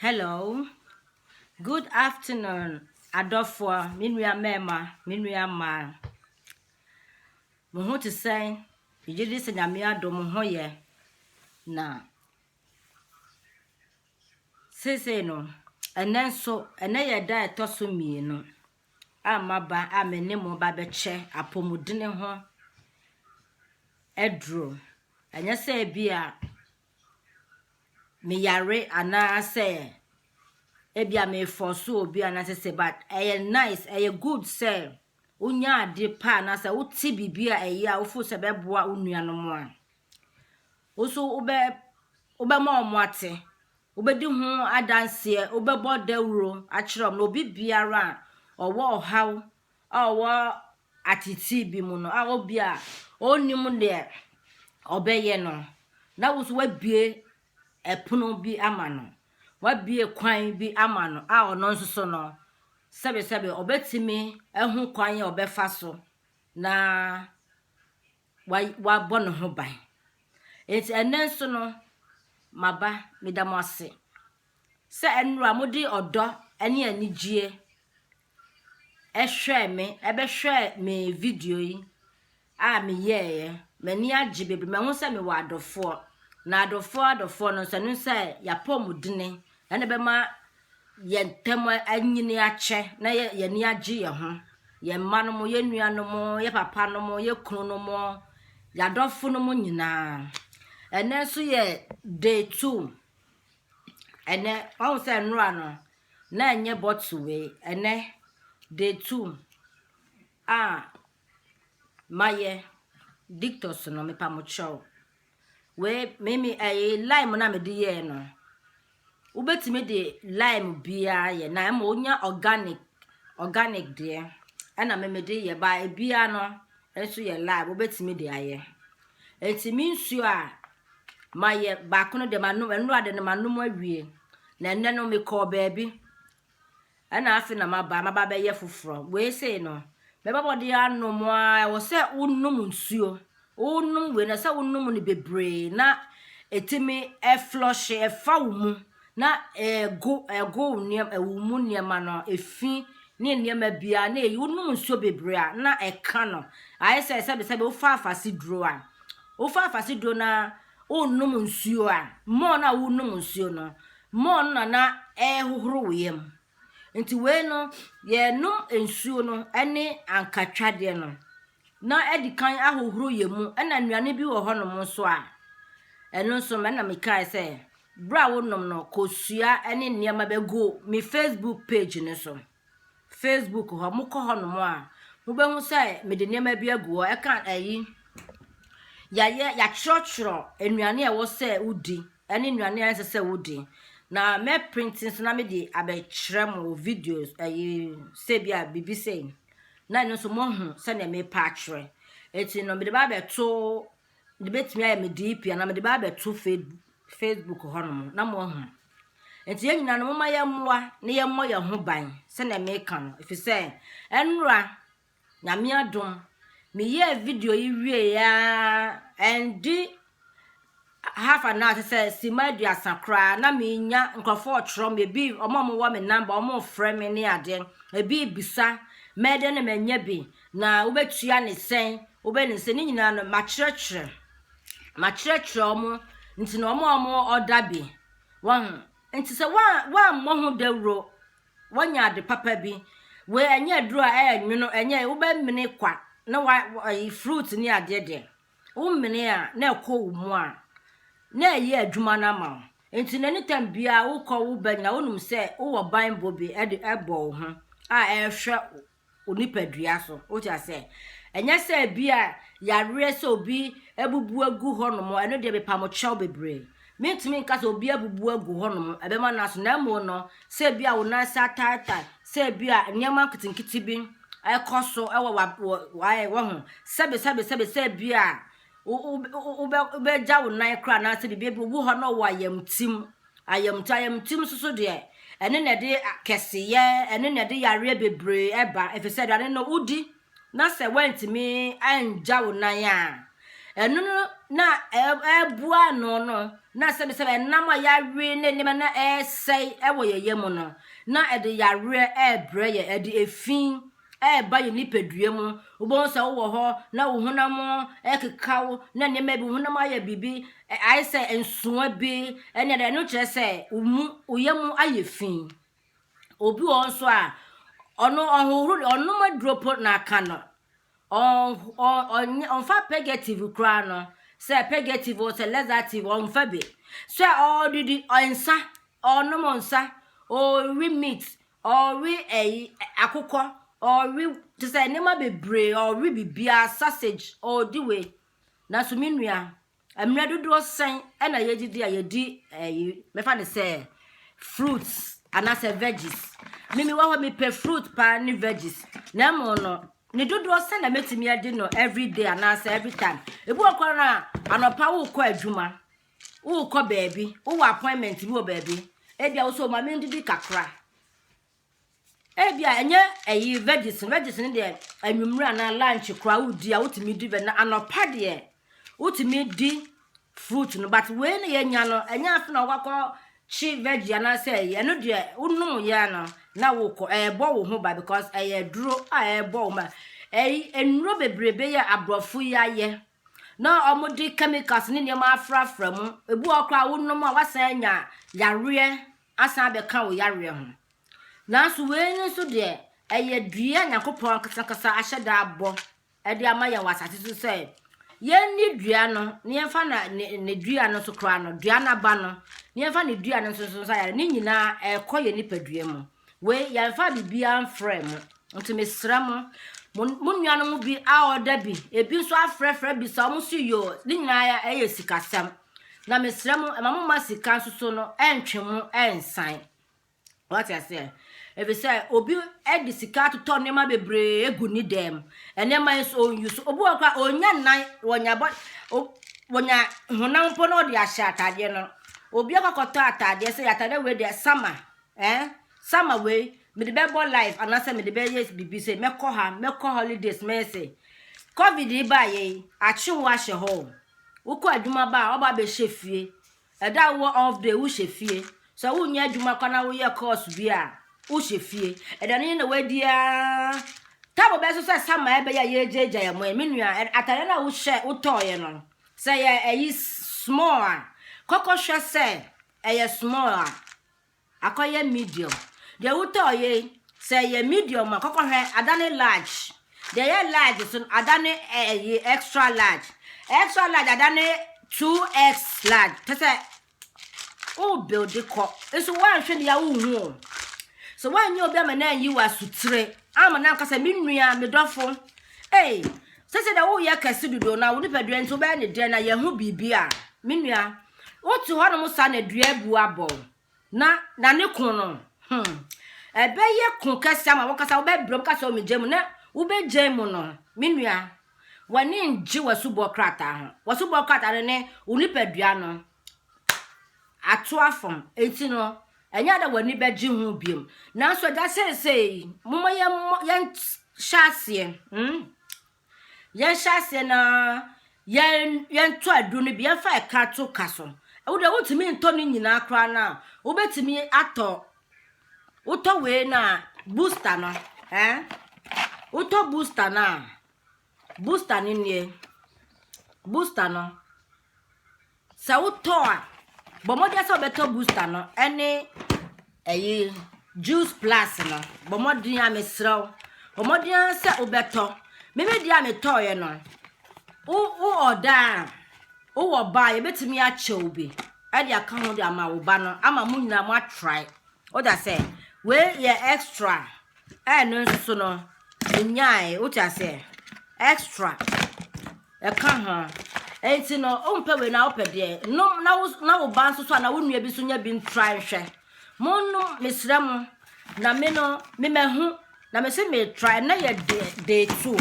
Hello, good afternoon, adɔfoɔ, me nua mmarima, me nua mmaa. Mo ho te sɛn? Megye di sɛ Nyame adom mo ho yɛ. Na seesei no, ɛnɛ nso, ɛnɛ yɛ da a ɛtɔ so mmienu. a maba a me ne mo ba bɛkyɛ apɔmudene ho aduro. Ɛnyɛ sɛ ebi a meyare anaasɛ ebi a mefɔso obi anaasɛ sɛ but ɛyɛ nice ɛyɛ good sɛ wonya ade pa anaasɛ wote biribi a ɛyɛ a wofo sɛ bɛboa wo nuanom a Wo nso wobɛ, wobɛma wɔn ate, wobɛdi ho adanseɛ, wobɛbɔ dawuro akyerɛ wɔn. Na obi biara a ɔwɔ ɔhaw a ɔwɔ ateetee bi mu no, a obi a ɔnnim deɛ ɔbɛyɛ no, na wo nso wabue ɛpono bi ama no, wabue kwan bi ama no a ɔno nso so no, sɛbesɛbe ɔbɛtumi ahu kwan a ɔbɛfa so na wa wabɔ ne ho ban nti ɛnɛ nso no maba meda mo ase sɛ ɛnora mode ɔdɔ ne anigyeɛ ɛhwɛɛ me ɛbɛhwɛɛ me video yi a meyɛɛyɛ m'ani agye bebree mahu sɛ mewɔ adɔfoɔ na adɔfoɔ adɔfoɔ no nso ɛno sɛ yɛapɔ mu dene ɛna bɛma yɛn ntam anyini akyɛ na yɛ yɛn ani agye yɛn ho yɛn mma no mo yɛn nua no mo yɛ papa no mo yɛ kunu no mo yadɔfo no mo nyinaa ɛnɛ nso yɛ day two ɛnɛ wɔn sɛ nnora no na ɛnyɛ bɔtɔ wei ɛnɛ day two a mayɛ dictus no mepa mo kyɛw wei mimi ɛyɛ eh, lime na mede yɛɛ no wobɛtumi de lime biara yɛ na ɛma wonya organic organic deɛ ɛna memede yɛ ba ebia no nso yɛ lime wobɛtumi de ayɛ ɛti me nsuo a mayɛ baako no deɛ manom ɛnora de no manom awie na ɛnɛ no mekɔɔ baabi Ɛna afei na maba maba bɛyɛ foforɔ wei sei no mɛbɛbɔ de anom a ɛwɔ sɛ wonom nsuo wonom wei na sɛ wonom no bebree na ɛtumi ɛflɔhye ɛfa wo mu na ɛgo ɛgo nneɛma ɛwo mu nneɛma no efi ne nneɛma biara na eyi wonom nsuo bebree a na ɛka no ayɛ sɛ sɛbisɛbi wofa afase duro a wofa afase duro na Wonom nsuo a, mmɔɔ no a wonom nsuo no, mmɔɔ no na na ɛrehohoro wo yam. Nti wei no, yɛnom nsuo no ne ankatwadeɛ no na adi kan ahohoro yɛn mu. Ɛna nnuane bi wɔ hɔnom nso a, ɛno nso no, ɛna mekae sɛ, berɛ a wonom no, kɔsua ne nneɛma bɛgu me Facebook page no so. Facebook hɔ mokɔ hɔnom a mobɛhu sɛ mede nneɛma bi agu hɔ ɛka ayi yɛayɛ yɛatwerɛtwerɛ nnuane a ɛwɔ sɛ wodi ɛne nnuane a ɛnsɛ sɛ wodi na mɛprinte nso na mede abɛkyerɛ mo wɔ videos ayi sɛ bi a biribi sei na ɛno nso moahu sɛdeɛ mepa akyerɛ ɛti no mede ba abɛto mede bɛtumi ayɛ me DP anaa mede bɛ abɛto Facebook hɔnom na moahu. Nti yɛn nyinaa no moma yɛmmoa na yɛmmɔ yɛn ho ban sɛnea meka no ɛfiri sɛ ɛnora nyame adom meyɛɛ video yi wieɛ ɛnde half an hour sɛ sima aduasa koraa na menya nkurɔfoɔ ɔtwerɛ me ebi ɔmo ɔmo wɔ me namba ɔmo frɛ me ne adeɛ ebi bisa mɛdɛ ne mɛnyɛ bi Na wobɛtua no sɛn? Wobɛyɛ no sɛ ne nyinaa no makyerɛkyerɛ makyerɛkyerɛ wɔn nti na wɔn a wɔn ɔda bi wɔn nti sɛ wɔammɔ ho dawuro wɔanya ade papa bi wei ɛnyɛ aduro a ɛyɛ nwono ɛnyɛ wobɛmene kwa na wa ɛyi fruit ne adeɛ deɛ womene a na ɛkɔ wo mu a na ɛyɛ adwuma no ama wo nti na anytime biara wokɔ wo ba nyina wonom sɛ wowɔ banbɔ bi ɛde ɛbɔ wo ho a ɛhwɛ wo nipadua so. Wote aseɛ? Ɛnyɛ sɛ ebia yareɛ sɛ obi abubu agu hɔnom, ɛno deɛ mepamo kyɛw bebree. Mentumi nka sɛ obi abubu agu hɔnom, ɛbɛma no aso, na mmom no, sɛ ebia wo nan ase ataatae, sɛ ebia nneɛma nketenkete bi ɛkɔ so ɛwɔ wa wɔ waayɛ wɔ ho, sɛbe sɛbe sɛbe sɛ ebia wobɛgya wo nan koraa anaasɛ biribi ebi owu hɔ na ɔwɔ ayamtim Ayamtu, ayamtu nso so deɛ, ɛno na ɛde kɛseyɛ, ɛno na ɛde yareɛ bebree ɛba, ɛfiri sɛ aduane no wodi na sɛ woantumi angya wo nan a, ɛno no na ɛreboa ano no na sɛbisɛbi ɛnam a yɛawe ne nneɛma na ɛresɛe ɛwɔ yɛn yam no, na ɛde yareɛ ɛrebrɛ yɛn, ɛde efi ɛreba yɛn nipadua mu. Wobɛhu sɛ wowɔ hɔ na wo honam rekeka wo na nneɛma bi, wo honam ayɛ biribi, ayɛ sɛ nsoa bi, ɛne ɛde ɛno kyerɛ sɛ wo mu, wo yɛ mu ayɛ fi. Obi wɔ nso a, ɔno ɔhohoro, ɔnom aduro po na aka no. Ɔmfa pegative koraa no, sɛ pegative o, sɛ laxative, ɔmfa bi. Sɛ ɔdidi, ɔnsa, ɔnom nsa, ɔwe meat, Ɔrewe ɛyi akokɔ, ɔrewe te sɛ nneɛma bebree, ɔrewe biribiara, sausage, ɔredi wei. Nanso me nua, mmerɛ dodoɔ sɛn ɛna yɛdidi a yɛdi ɛyi, mɛfa no sɛ fruits anaasɛ veggies. Me mewɔ hɔ mepɛ fruit paa ne veggies, na mmom no ne dodoɔ sɛn na mɛtumi adi no every day anaasɛ every time. Ebi wɔ koraa no a anɔpa wokɔ adwuma, Wokɔ baabi, wowɔ appointment bi wɔ baabi, ebia wo sɛ ɔma me ndidi kakra. Ebia ɛnyɛ ɛyi veggies, veggies no deɛ anwummerɛ anaa lunch koraa wodi a wotumi di veggies, na anɔpa deɛ wotumi di fruit no, but wei na yɛnya no, ɛnyɛ afe na wokakɔ kye veggie anaasɛ ɛyi, ɛno deɛ wonom yɛ no na wokɔ, ɛrebɔ wo ho ba because ɛyɛ aduro a ɛrebɔ wo ma. Ɛyi, nnuro bebrebe yɛ aborɔfo yi ayɛ, na wɔde chemicals ne nneɛma afrafra mu, ebi wɔ hɔ koraa wonom a wasan anya yareɛ asan abɛka wo yareɛ ho. Nanso wei no nso deɛ, ɛyɛ dua a Nyankopɔn ankasa ankasa ahyɛ da abɔ de ama yɛn wɔ asase so sɛ yɛnni dua no na yɛmfa na ne, ne dua no nso koraa no, dua no aba no, na yɛmfa ne dua no nso nso nsa yare. Ne nyinaa ɛrekɔ yɛn nipadua mu. Wei yɛmfa biribiara mfrɛ mo. Nti mesrɛ mo, mo nuanom bi a ɔda bi, ebi nso afrɛfrɛ bi sa, wɔn so yoo, ne nyinaa ɛyɛ sikasɛm. Na mesrɛ mo, ɛma mo ma sika nso so no, ɛntwe mo ɛnsan. Wate aseɛ? Efisɛ obi de sika atotɔ nneɛma bebree egu ne dɛm. Nneɛma yi nso onyi so. Obi wɔ hɔ koraa onya nan, wɔnya bɔ, wɔnya honam mpo na ɔde ahyɛ ataadeɛ no. Obi akɔkɔtɔ ataadeɛ sɛ ataadeɛ wei deɛ sama, Eh summer wei mede bɛbɔ live anaasɛ mede bɛyɛ biribi sɛ mɛkɔ ha mɛkɔ holidays mɛyɛ sɛ covid yi baayɛ yi akye wo ahyɛ hɔ o wokɔ adwuma ba a ɔba abɛhyɛ fie ɛda a wowɔ off day wohyɛ fie sɛ wonyɛ adwuma kɔ na woyɛ course bi a wohyɛ fie ɛda no yɛ na wadi a tabo bɛso sɛ sama ɛbɛyɛ a yɛgyaagya yɛ mo ɛ me nua ɛ- atadeɛ no a wohyɛ wotɔɔyɛ no sɛ yɛ ɛyi s- small a kɔkɔhwɛ sɛ ɛyɛ small a akɔyɛ medium deɛ wotɔɔ yei sɛ ɛyɛ medium a kɔkɔhwɛ adane large deɛ ɛyɛ large so no adane ɛyi extra large extra large adane 2x large kyɛ sɛ wo build kɔ nso woanhwɛ ne ya wonhu o sɛ woanyɛ obi ama no anyi wɔ asotire ama no anka sɛ me nua me dɔfo ei sɛ sɛ dɛ woyɛ kɛse dodo na wo nipadua nti wobɛyɛ ne dɛn na yɛho biribi a me nua Wote hɔnom saa na dua abu abɔ wo na na ne ko no hmm ɛbɛyɛ ko kɛse ama wankasa wobɛbrɛ mu ka sɛ ɔmegya mu na wobɛgya mu no me nua w'ani ngye w'asubɔ krataa ho w'asubɔ krataa no ne wo nipadua no ato afam enti no ɛnyɛ ada w'ani bɛgye ho biom nanso agya seesei moma yɛhyɛ aseɛ hmm Yɛnhyɛ aseɛ na yɛn yɛntɔ aduro no bi yɛmfa ɛka to ka so ɛwo deɛ wotumi ntɔ ne nyinaa koraa no a wobɛtumi atɔ wotɔ wei no a booster no eh? wotɔ booster no a booster no nie booster no Sɛ wotɔ a, bɔ mmɔden sɛ wobɛtɔ booster no ne ɛyi juice plus no. Bɔ mmɔden a mesrɛ wo. Bɔ mmɔden sɛ wobɛtɔ. Mimi deɛ a metɔeɛ no, wo wo ɔda a wowɔ ba a yɛbɛtumi akyɛ wo bi ɛde aka ho de ama wo ba no ama mo nyinaa mo atrae. Woda sɛ wei yɛ extra Ɛno nso so no, menyae, wote aseɛ, extra, ɛka ho. Nti no, wompɛ wei na wopɛ deɛ. Nom na wo na wo ba nso so anaa wo nua bi nso nya bi ntra nhwɛ. Monnom, mesrɛ mo, na me no, memahu, na mese metra, ɛnɛ yɛ day, day two.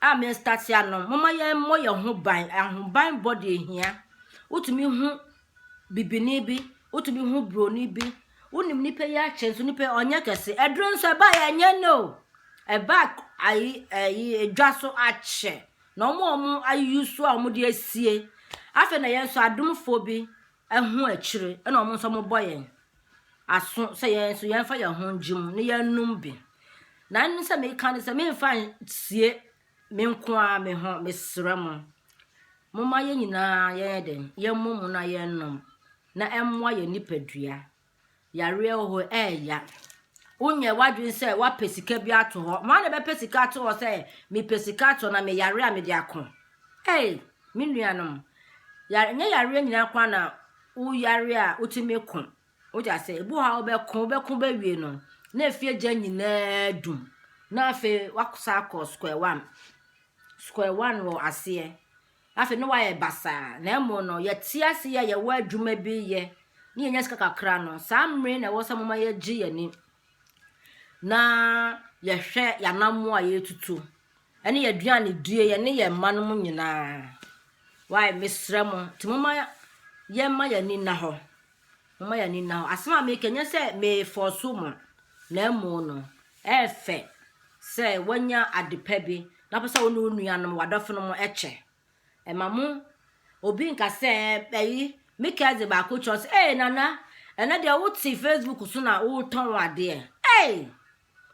a me start anom moma yɛn mmɔ yɛn ho ban ahoban bɔ deɛ hia wotumi hu bibini bi wotumi hu broni bi wonim nipa yi akyɛ nso nipa yi ɔnyɛ kɛse ɛduro nso ɛba yɛ ɛnyɛ no ɛba ayi ayi edwa so akyɛ na wɔn a wɔn ayi so a wɔn de asie afei na yɛn nso adomfoɔ bi ho akyire na wɔn nso wɔbɔ yɛn aso sɛ yɛn nso yɛmfa yɛn ho ngye mu na yɛnnom bi na ɛno sɛ meka no sɛ memfa nsie me nko ara me ho mesrɛ mo momma yɛn nyinaa yɛyɛ den yɛmmɔ mu na yɛnnom na ɛmmoa yɛn nipadua Yareɛ wɔ hɔ ɛɛya. Wonyɛ w'adwene sɛ wapɛ sika bi ato hɔ. Wɔn na bɛpɛ sika ato hɔ sɛ mepɛ sika ato na meyare a mede ako. Ei, me nuanom, yare nyɛ yareɛ nyinaa kwan na woyare a wotumi ko. Wode ase, ebu ha wobɛko wobɛko bɛwie no na efie gya nyinaa dum na afei wakɔsa akɔ square one. Square one wɔ aseɛ. Na afei ne wayɛ basaa. Na mmom no, yɛte ase yi a yɛwɔ adwuma bi yɛ na yɛnya sika kakra no, saa mmere na ɛwɔ sɛ moma yɛgye yɛn ani na yɛhwɛ yɛanammoa a yɛretutu ne yɛaduane die yɛne yɛn mma no mu nyinaa. Wae, mesrɛ mo, nti moma yɛmma yɛn ani nna hɔ Momma yɛn ani nna hɔ. Asɛm a meka nyɛ sɛ merefɔɔso mo, na mmom no, ɛyɛ fɛ sɛ woanya ade pa bi na wopɛ sɛ wo ne wo nuanom, w'adɔfonom kyɛ. Ɛma mo obi nka sɛ, ɛyi, me cousin baako kyerɛ sɛ, ee, Nana, ɛnɛ deɛ wote Facebook so na wotɔn adeɛ. Ee!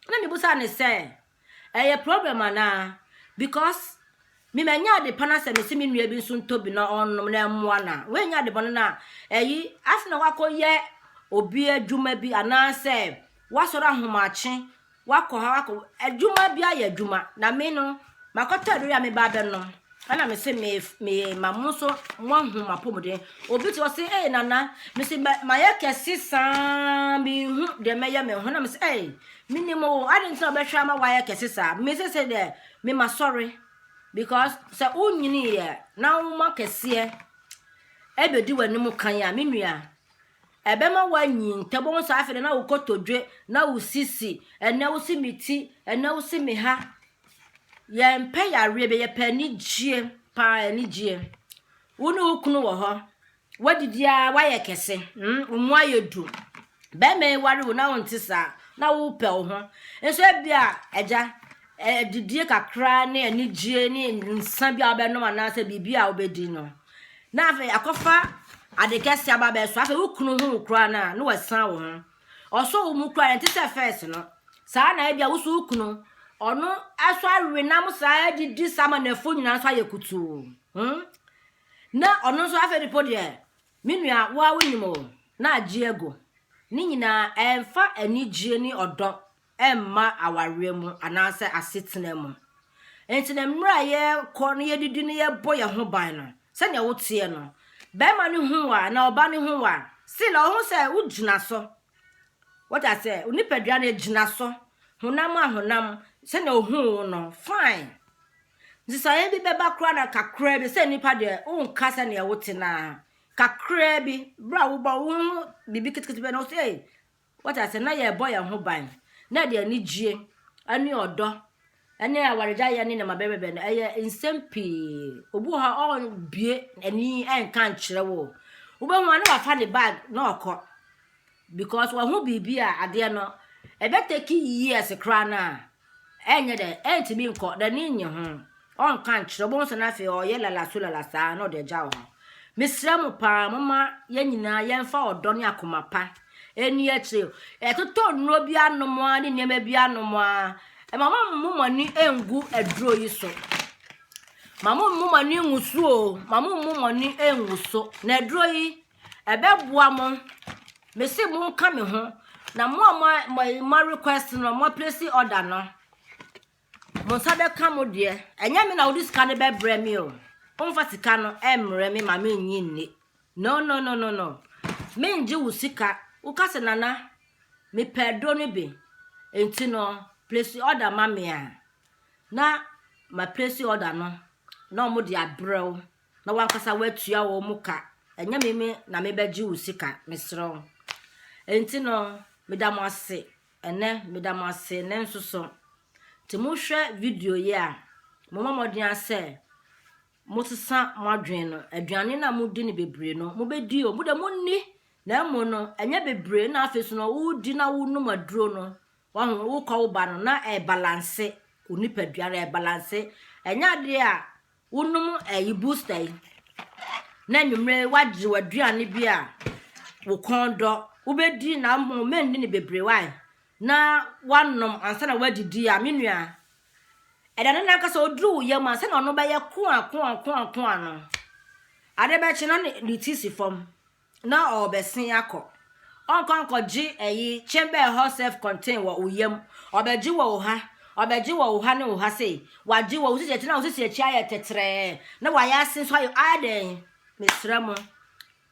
Na mebusa no sɛ, Ɛyɛ problem anaa? Because me manya ade pa na sɛ mese me nua bi nso ntɔ bi na ɔnnom na ɛmmoa no a, woanya ade bɔne no a, ɛyi afei na wakɔyɛ obi adwuma bi anaasɛ wasɔre ahomakye wakɔ ha wakɔ adwuma bi ayɛ adwuma na me no makɔtɔ aduru a meba abɛnom Ɛna me se me me ma mo nso mo ahu mo apɔmuden. Obi te ɔse ee nana me se mayɛ kɛse saa me hu deɛ mɛyɛ me ho na me se ee me nim o ade nti na ɔbɛhwɛ ama wayɛ kɛse saa me se se deɛ me ma sɔre because sɛ wonyini yɛ na woma kɛseɛ ɛbɛdi w'anim kan a me nua ɛbɛma wanyi ntɛm wɔn sɛ afei na wokɔtɔdwe na wo sisi ɛnɛ wo se me ti ɛnɛ wo se me ha Yɛmpɛ yareɛ bɛ, yɛpɛ anigyeɛ paa, anigyeɛ. Wo ne wo kunu wɔ hɔ, woadidi ara, woayɛ kɛse, mm, wo mu ayɛ du. Bɛrima yi ware wo na wonte saa, na wopɛ wo ho. Nso ebi a, agya, ɛ- adidie kakra ne anigyeɛ ne nsa bi a wobɛnom anaasɛ biribi a wobɛdi no. Na afei akɔfa ade kɛse aba bɛso, afei wo kunu hu wo koraa no a, na wasan wo ho. Ɔsɔ wo mu kura ɛnte sɛ fɛs no. Saa na ebia woso wo kunu. Ɔno ɛso awe nam saa didi samanɛfo nyinaa nso ayɛ kutuu. Hmm? Na ɔno nso afei de po deɛ me nua wo a wonim o na agye agu. Ne nyinaa ɛmfa anigyeɛ ne ɔdɔ ɛmma awareɛ mu anaasɛ asetena mu. Nti no mmerɛ a yɛkɔ no yɛdidi no yɛbɔ yɛn ho ban no, sɛdeɛ woteɛ no, bɛrima no hu wa na ɔba no hu wa, still ɔho sɛ wogyina so. Wata sɛ, nipadua no gyina so, honam a honam, sɛdeɛ ohuu wo no, fine. Nsesaeɛ bi bɛba koraa na kakraa bi, sɛ nipa deɛ, wonka sɛdeɛ wote naa. Kakraa bi, berɛ a wobɔ wo ho biribi ketekete bɛ na wo sɛ, Wate ase? Na yɛrebɔ yɛn ho ban. Na ɛde anigyeɛ ne ɔdɔ ne awaregyaeɛ ne nneɛma bɛbɛbɛ no. Ɛyɛ nsɛm pii. Obi wɔ hɔ a ɔrebue ani nka nkyerɛ wo. Wobɛhu a na wafa ne bag na ɔkɔ because wahu biribi a adeɛ no ɛbɛtake years koraa no a Ɛnyɛ dɛ, ɛntumi nkɔ, n'ani nnye ho, ɔnka nkyerɛ, wobɛhu sɛ no afei ɔyɛ lalasolala saa na ɔde agyaw ho. Mesrɛ mo paa, momma yɛn nyinaa yɛmfa ɔdɔ ne akoma pa ɛnni akyire. Ɛtotɔ nnuro bi anom ara ne nneɛma bi anom ara, ɛma mommu mo ani ngu aduro yi so. Ma mommu mo ani ngu so o, ma mommu mo ani ngu so. Na aduro yi, Ɛbɛboa mo. Mese mo nka me ho. Na mo a mo mo mo request no mo place order no. Mo nsa bɛka mo deɛ. Ɛnyɛ me na wode sika no bɛbrɛ me o. Womfa sika no ɛmmerɛ me ma me nyi nni. No no no no no. Me ngye wo sika. Woka sɛ nana mepɛ aduro no bi. Enti no place order ma me a. Na ma place order no. Na wɔn de abrɛ wo. na w'ankasa woatua wɔn mu ka, ɛnyɛ me me na mebɛgye wo sika, mesrɛ wo. Enti no, meda mo ase ɛnɛ, meda mo ase ɛnɛ nso so. Nti mohwɛ video yi a, momma mmɔden a sɛ mosesa mo adwene no, aduane no a modi no bebree no, mobɛdi o, mo de monni, na mmom no, ɛnyɛ bebree na afei so no, wodi na wonom aduro no, wahu wokɔ wo ba no, na ɛbalanse, onipadua no ɛbalanse, ɛnyɛ adeɛ a Wonom ɛyi booster yi na anwummerɛ yi wagye w'aduane bi a wo kɔn dɔ wobɛdi na mmom mɛnni no bebree wae na wanom ansa na wadidi a me nua ɛda no nankasa ɔduru wo yam ansa na ɔno bɛyɛ koa koa koa koa no ade bɛkye na ne ti si fam na ɔɔbɛsen akɔ. Ɔnkɔ nkɔgye ɛyi chamber ɛhɔ self contain wɔ wo yam. Ɔbɛgye wɔ wo ha, ɔbɛgye wɔ wo ha ne wo ha sei. Wagye wɔ wo sisi akyi na wo sisi akyi ayɛ tɛtrɛɛ na wayɛ ase nso ayɛ ayɛ dɛn? Mesrɛ mo,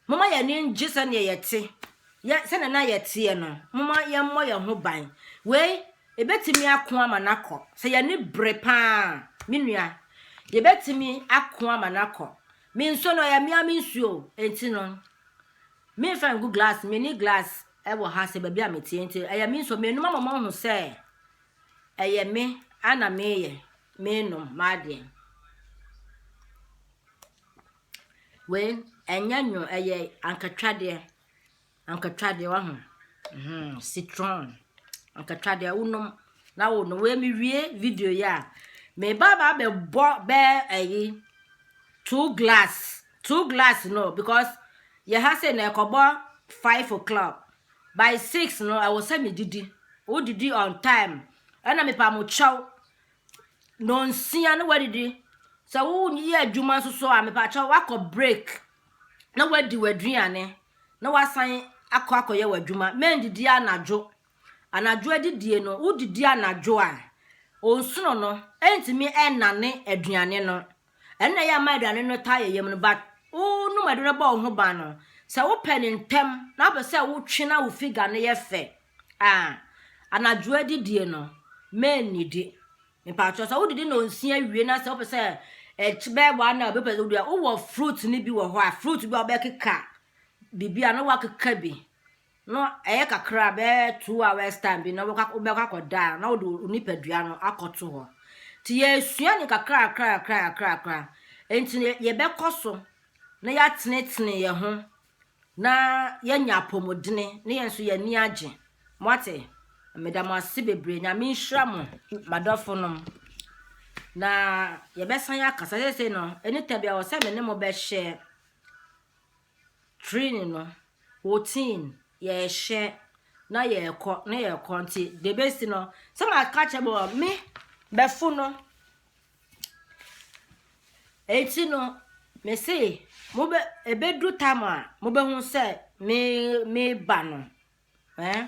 moma yɛn ani ngye sɛdeɛ yɛte, yɛ sɛdeɛ na yɛteɛ no. Moma yɛmmɔ yɛn ho ban. Wei, ebɛtumi ako ama no akɔ. Sɛ yɛn ani bere paa, me nua, yɛbɛtumi ako ama no akɔ. Me nso no ɔyɛ mea me nsuo nti no memfa ngu glass meni glass wɔ ha sɛ baabi a meteɛ nti ɛyɛ me nsuo menom ama moahu sɛ ɛyɛ me ana meyɛ menom m'adeɛ wei ɛnyɛ nwo ɛyɛ ankatwadeɛ Ankatwadeɛ wahu mm-hmm citron ankatwadeɛ wonom na wo no wei mewie video yi a meba ba bɛbɔ bɛɛ ɛyi two glass two glass no because yɛ ha sɛ na ɛkɔbɔ five o'clock by six no ɛwɔ sɛ medidi wodidi on time ɛna mepa mo kyɛw Nnɔnsia na woadidi. Sɛ woyɛ adwuma nso so a, mepaakyɛ woakɔ break na woadi w'aduane na woasan akɔ akɔyɛ w'adwuma. Mɛndidi anadwo. Anadwo adidie no, wodidi anadwo a, onsono no ɛntumi ɛnnane aduane no. Ɛno na ɛyɛ ama aduane no taa yɛ yam no, but wonom aduane bɔ wo ho ban no, sɛ wopɛ no ntɛm na wopɛ sɛ wotwe na wo figure no yɛ fɛ a, Ah, anadwo adidie no, mɛnnidi. Mpakyɛw sɛ wodidi na onsia wie na sɛ wopɛ sɛ ɛkyɛ bɛyɛ one na wobɛpɛ sɛ wodua wowɔ fruit no bi wɔ hɔ a fruit bi a wobɛkeka biribi a na woakeka bi no ɛyɛ kakra bɛyɛ two hours time bi na wobɛkɔ akɔda na wode wo nipadua no akɔto hɔ nti yɛsua ne kakrakrakrakrakra nti yɛbɛkɔ so na yɛatenetene yɛn ho na yɛanya apɔmudene ne yɛn nso yɛn ani agye moate meda mo ase bebree nyame nhyira mo madɔfo nom na yɛbɛsan yɛ akasa sese no ɛnita bia wɔ sɛ me ne mo bɛhyɛ training no routine yɛhyɛ na yɛkɔ na yɛkɔ nti debesi no sɛ maka kyɛ bɔ me bɛfo no Enti no, mese, mobɛ, ebedu tam a, mobehu sɛ me, meba no. Eh?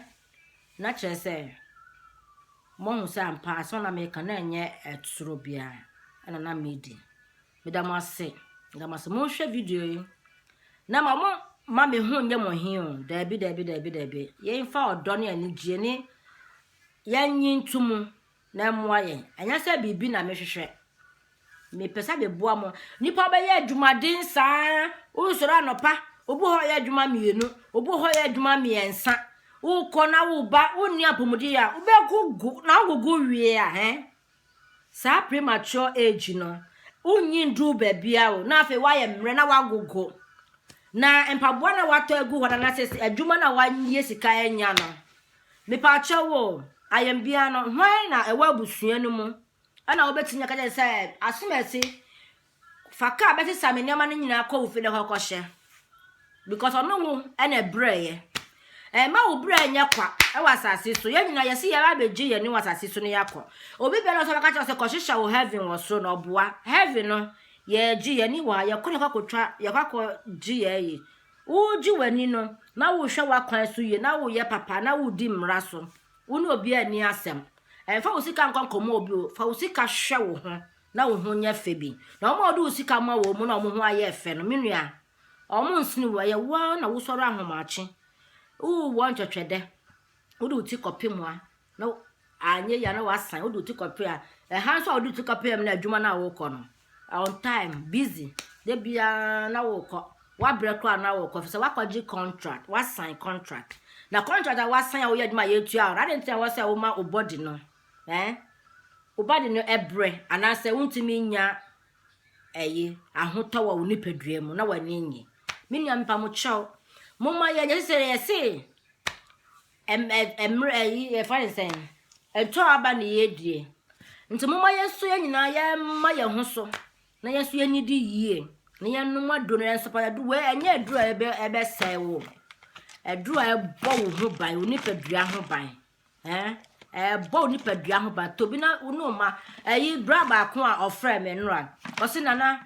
Na kyerɛ sɛ, moahu sɛ ampa asɛm na meka na ɛnyɛ ɛtoro biara ɛna na medi. Meda mo ase, meda mo ase. Monhwɛ video yi. Na ma mo ma me ho nyɛ mo he o. Daabi, daabi, daabi, daabi. Yɛmfa ɔdɔ ne anigyeɛ ne yɛnyi nto mu na ɛmmoa yɛn. Ɛnyɛ sɛ biribi na mehwehwɛ. Mepɛ sɛ meboa mo. Nnipa bɛyɛ adwumaden saa. Wosɔre anɔpa, obi hɔ yɛ adwuma mmienu, obi hɔ yɛ adwuma mmiɛnsa. Wokɔ na woba, wonni apɔmuden a wobɛgogo na wogogo wie a hɛn. Saa premature age no, wonnyi nduu baabia o, na afei woayɛ mmerɛ na woagogo. Na mpaboa na woatɔ agu hɔ no anasɛ adwuma na woayɛ sika anya no, Mepaakyɛw o, ayɛnbea no, hwan na ɛwɔ abusua no mu na wobɛtumi aka kyerɛ sɛ, Asomasi, fa kaa bɛsesa me nneɛma no nyinaa kɔ wo fi na hɔ kɔhyɛ? Because ɔno wo na ɛbrɛeɛ. Ɛmma wo brɛ nyɛ kwa wɔ asase so. Yɛn nyinaa yɛsi yɛn abɛgye yɛn ne wɔ asase so no yɛakɔ. Obi biara nso bɛka kyerɛ sɛ kɔhyehyɛ wo heaven wɔ soro na ɔboa. Heaven no, yɛgye yɛn ni wɔ ha, yɛkɔ ne kɔkɔtwa, yɛkɔ akɔgye yɛn yi. Wogye w'ani no, na wohwɛ w'akwan so yie, na woyɛ papa, na wodi mmara so. Wo ne obiara nni asɛm. Mfa wo sika nkɔ nkɔmmɔ obi o. Fa wo sika hwɛ wo ho, na wo ho nyɛ fɛ bi. Na wɔn a wode wo sika ma wɔn mu na wɔn ho ayɛ fɛ no, me nua, wɔnsene wo. Ɛyɛ wo ara na wosɔre ahomakye. Wowɔ ntwɛtwɛdɛ. wode wo ti kɔpem a na anyɛ yia na wasan wode wo ti kɔpem a ɛha nso a wode wo ti kɔpem na adwuma no a wokɔ no on time busy da biara na wokɔ wabrɛ koraa na wokɔ sɛ wakɔgye contract wasan contract na contract a wasan a woyɛ adwuma a yɛtua wo ade nti a wɔsɛ woma wo body no eh wo body no ɛbrɛ anaasɛ wontumi nya ɛyi ahotɔ wɔ wo nipadua mu na w'ani nye me nua mpa mo kyɛw mo ma yɛ yɛsɛ yɛse ɛm ɛmmerɛ ɛyi yɛfa ne sɛn ɛtɔ aba ne yɛdie nti mo ma yɛ nso yɛ nyinaa yɛma yɛ ho so na yɛ nso yɛni di yie na yɛnom aduro no yɛn nso pa yɛdu wɔ ɛnyɛ aduro a ɛbɛ ɛbɛsɛe wo aduro a ɛbɔ wo ho ban wo nipadua ho ban Ɛɛ, ɛbɔ wo nipadua ho ban. Tobi na wo ne wo mma. Ɛyi, bra baako a ɔfrɛ me nnora. Ɔse nana,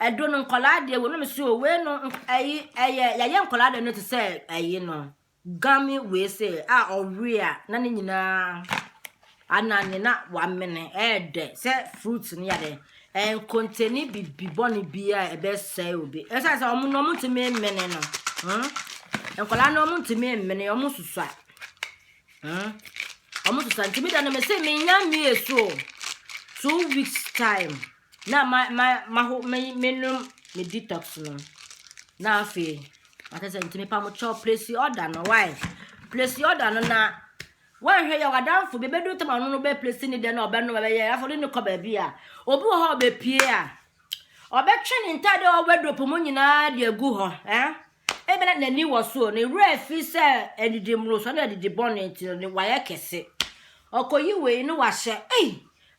ɛdo no nkɔlaa deɛ wɔ na me so o, wei no, ɛyi, ɛyɛ, yɛayɛ nkɔlaa deɛ no te sɛ ɛyi no. Game wei se a ɔwe a, na ne nyinaa anane na wamene, ɛɛdɛ sɛ fruit no yɛ dɛ. Ɛnkontani bibi bɔne bi a ɛbɛsɛe obi. Ɛsɛ sɛ ɔmo no ɔmo ntumi mmene no. Hmm? Nkɔlaa no ɔmo ntumi mmene, ɔmo susua. Hmm? Ɔmo sesa nti mi da no mi se mi nya mi esu o. Two weeks time na ma ma ma ho me me nom me detox no. Na afei akasa nti mi pa mo kyɛw place order no why? Place order no na wɔnhwɛ yɛ wadanfo bi bɛdu tam ano no bɛ place ne dɛ na ɔbɛno bɛyɛ afɔ de ne kɔ baabi a obi wɔ hɔ a ɔbɛpie a ɔbɛtwe ne ntaade a ɔwɔ wardrobe mu nyinaa de agu hɔ eh? Ebia na n'ani wɔ soro, ne werɛ afi sɛ adidi mmorosoɔ ne adidi bɔne nti no, ne wayɛ kɛse. Ɔkɔyi wei na wahyɛ, ei,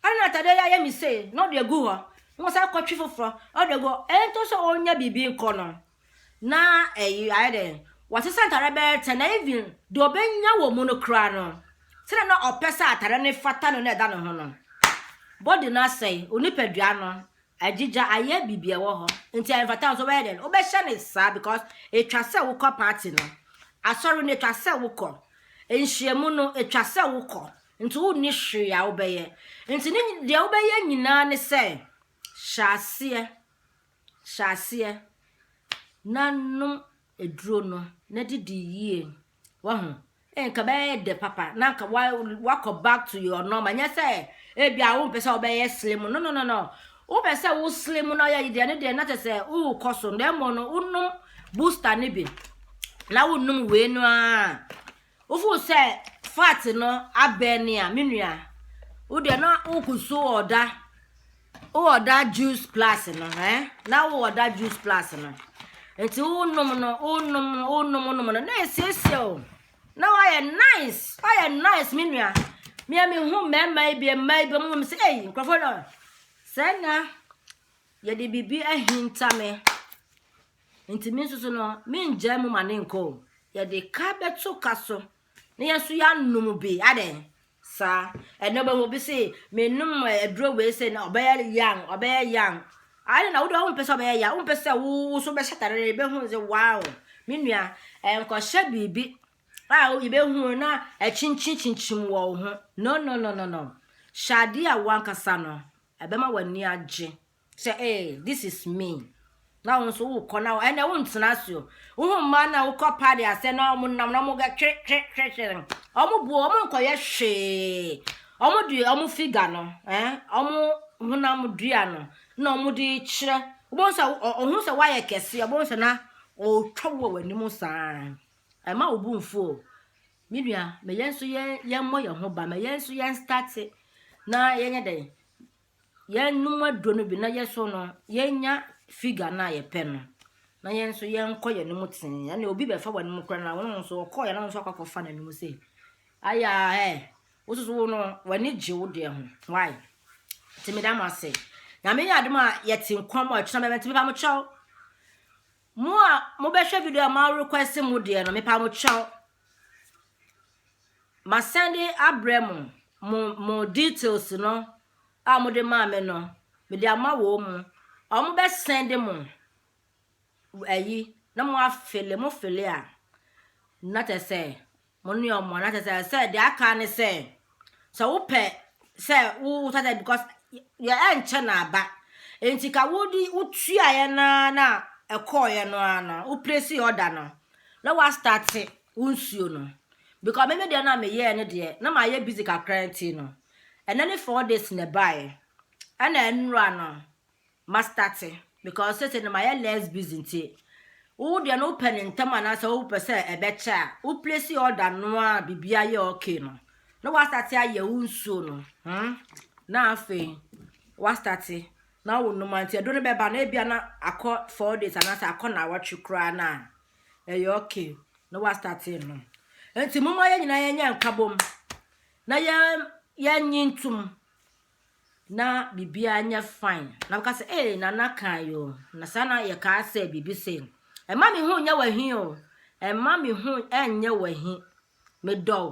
ɛna na atadeɛ yi ayɛ me sei, na ɔde agu hɔ, na wasan akɔtwe foforɔ, na ɔde agu hɔ. Ɛntɔ sɛ ɔnya biribi nkɔ no, na ɛyi ayɛ dɛn, wasesa ntadeɛ bɛyɛ ten, na even deɛ ɔbɛnya wɔ mu no koraa no, sɛdeɛ na ɔpɛ sɛ atadeɛ no fata no na ɛda ne ho no, body no asɛe, onipadua no Agyigya ayɛ bibi ɛwɔ hɔ nti ɛnfata nso wobɛyɛ dɛn wobɛhyɛ no saa because ɛtwa sɛ wokɔ party no asɔre no ɛtwa sɛ wokɔ nhyiamu no ɛtwa sɛ wokɔ nti wonni hwee a wobɛyɛ nti ne deɛ wobɛyɛ nyinaa ne sɛ hyɛ aseɛ hyɛ aseɛ na nom aduro no na didi yie wahu nka bɛyɛ dɛ papa na nka wa wakɔ back to your normal nyɛ sɛ ebi a wompɛ sɛ wobɛyɛ slim no no no no wopɛ sɛ wo slim na ɔyɛ deɛ ne deɛ na kyɛ sɛ wokɔ so na mmom no wonom booster no bi na wonom wei no a Wofoo sɛ fat no abɛn ne a, me nua, wo deɛ na wokusu wɔ ɔda, wɔ ɔda juice plus no, eh? Na wɔ ɔda juice plus no. Nti wonom no, wonom no, wonom wonom no, na esiesie o. Na wayɛ nice, wayɛ nice me nua. Mea me hu mmarima yi bi, mmaa yi bi, wɔn sɛ, ei, nkurɔfoɔ no, sɛ na yɛde biribi ahinta me. Nti me nso so no, mengyae mu ma ne nkɔ o. Yɛde ka bɛto ka so, na yɛn nso yɛanom bi, adɛn? Saa. Ɛnna wobɛhu obi se, menom eh, aduro wei sɛ na ɔbɛyɛ yan, ɔbɛyɛ yan. Ade na wode wompɛ sɛ ɔbɛyɛ yan, wompɛ sɛ wo wo so bɛhyɛ atare no, yɛbɛhu sɛ wow, me nua, ɛnkɔhyɛ biribi a yɛbɛhu na akyinkyin kyinkyim wɔ wo ho. No, no, no, no, no. Hyɛ adeɛ a wankasa no, ɛbɛma w'ani agye. Sɛ ee, this is me. Na wo nso wokɔ na ɛnna wontena ase o. Wohu mmaa no a wokɔ paadi ase na wɔnam na wɔga twe twe twe twe no. Wɔboa wɔn nkɔyɛ hwee. Wɔde wɔn figa no, eh, wɔn honam dua no na wɔde kyerɛ. Wobɛhu sɛ ɔhu sɛ woayɛ kɛse, ɔbɛhu sɛ na ɔretwa wo wɔ w'anim saa. Ɛma wo bo mfu o. Me nua, ma yɛn nso yɛn yɛmmɔ yɛn ho ba, ma yɛn nso yɛn start na yɛnyɛ dɛn yɛnom aduro no bi na yɛ so no yɛnya figure no a yɛpɛ no na yɛn nso yɛnkɔ yɛn anim tee ɛna obi bɛfa wɔn anim kora na wɔn nso ɔkɔ yɛn nso akɔ akɔfa n'anim sɛ aya ɛ wososo wo no w'ani gye wo deɛ ho why tèmi dá mo ase nyame yɛ adum a yɛte nkwa mu a ɛtena bɛbɛ ntɛmi ba mo kyɛw Mo a mo bɛ hwɛ video a mo request mo deɛ no me pa mo kyɛw. Ma send abrɛ mo mo mo details no a mo de maa me no me de ama wɔ mo. Ɔmo bɛ send mo ayi na mo afele mo fele a na tɛ sɛ Mo ne wɔn na kyerɛ sɛ sɛ deɛ aka ne sɛ sɛ wopɛ sɛ wo wotwa dɛ because yɛ ɛnkyɛ na aba nti ka wodi wotuaeɛ no ara na ɛkɔɔeɛ no ara no wo place order no na woastarte wo nsuo no because meme deɛ no a meyɛɛ no deɛ na mayɛ busy kakra nti no ɛnɛ ne four days na ɛbaeɛ ɛna ɛnora no ma starte because sese no mayɛ less busy nti wo deɛ no wopɛ no ntɛm anaasɛ wopɛ sɛ ɛbɛkyɛ a wo place order no a biribiara yɛ okay no na wastarte ayɛ wo nsuo no hmm? na afei wastarte na wo nnoma nti ɛdo no bɛba na ebia na akɔ four days anaasɛ akɔ na awɔtwe koraa no a ɛyɛ okay na wastarte no nti momma yɛn nyinaa yɛnyɛ nkabom na yɛn yɛnyi ntom na biribiara nyɛ fine na bɛka sɛ ee nana kan yo na saa na yɛ kaa sɛ biribi sɛ ɛma me ho nyɛ wahi o ɛma me ho ɛnyɛ wahi medɔ o